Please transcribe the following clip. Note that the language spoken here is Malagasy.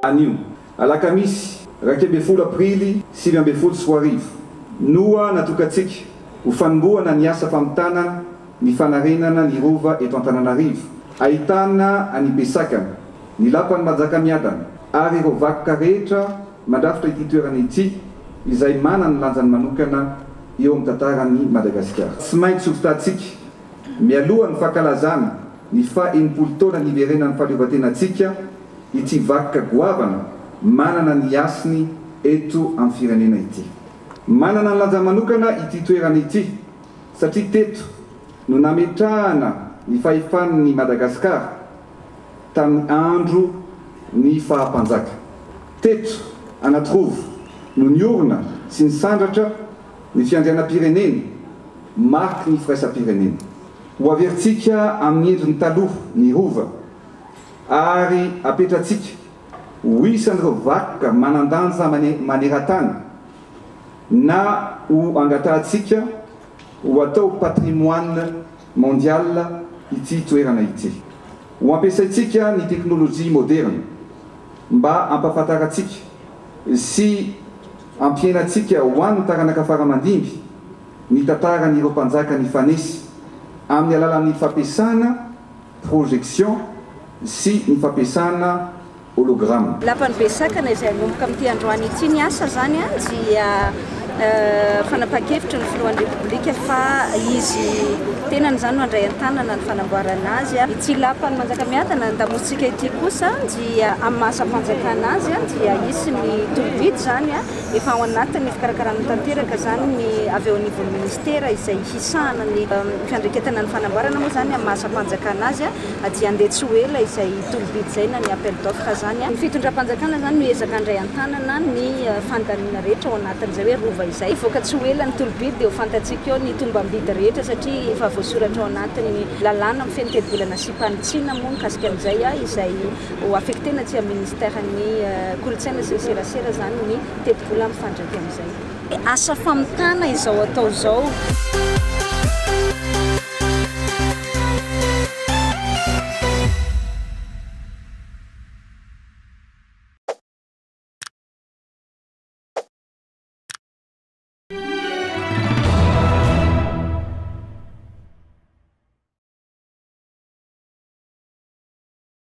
Anio, alakamisy iraika ambin'ny folo aprily sivy ambin'ny folo sy roa arivo, noa natokantsika ho fanombohana ny asa famitana ny fanarenana ny Rova eto Antananarivo, ahitana an'i Besakana, ny Lapan'i Manjakamiadana ary ireo vakoka rehetra Mandrafitra ity toerana ity izay manana ny lanjany manokana eo amin'ny tantaran'i Madagasikara. Tsy maintsy hovotantsika, mialoha ny fankalazana ny faha enimpolo taona niverenan'ny fahaleovantenantsika, ity vakoka goavana manana ny hasiny eto amin'ny firenena ity. Manana ny lanjany manokana ity toerana ity satria teto no nametrahana ny fahefan'ny Madagasikara. tamin'ny andro ny faha-mpanjaka. Teto Anatirova no niorina sy nisandratra ny fiandrianam-pirenena mariky ny firaisam-pirenena. Ho averintsika amin'ny endriny taloha ny Rova ary apetratsika ho isan'ireo vakoka manan-danja maneran-tany na ho angatahantsika ho atao patrimoine Mondial ity toerana ity. Ho ampiasaintsika ny teknolojia moderina mba hampahafantarantsika sy hampihenantsika ho an'ny taranaka fara aman-dimby ny tantaran'ireo mpanjaka nifanesy amin'ny alalan'ny fampiasana projection sy ny fampiasana Hologram. Lapan'i Besakana izay hanomboka amin'ity androany ity ny asa izany dia fanapahan-kevitry ny filohan'ny Repoblika fa izy tenany izany no handray an-tanana ny fanamboarana azy. Ity lapan'i Manjakamiadana andamosintsika ity kosa dia amin'ny maha asam-panjakana azy dia hisy ny torobidy izany efa ao anatin'ny fikarakarana tanteraka izany ny avy eo anivon'ny ministera izay hisahana ny fiandreketana ny fanamboarana moa izany amin'ny maha asam-panjakana azy. dia handeha tsy ho ela izay tolo-bidy izay na ny appel d'offre izany. Ny fitondram-panjakana izany no hiezaka handray an-tanana ny fandaniana rehetra ao anatin'izay hoe rova izay. Hivoaka tsy ho ela ny tolo-bidy dia ho fantatsika eo ny tombam-bidy rehetra satria efa voasoratra ao anatin'ny lalàna mifehy ny tetibolana asiam-panitsiana moa mikasika an'izay izay ho affecter-na aty amin'ny ministeran'ny kolontsaina sy ny serasera izany ny tetibola mifandraika amin'izay. Asa famitana izao atao izao.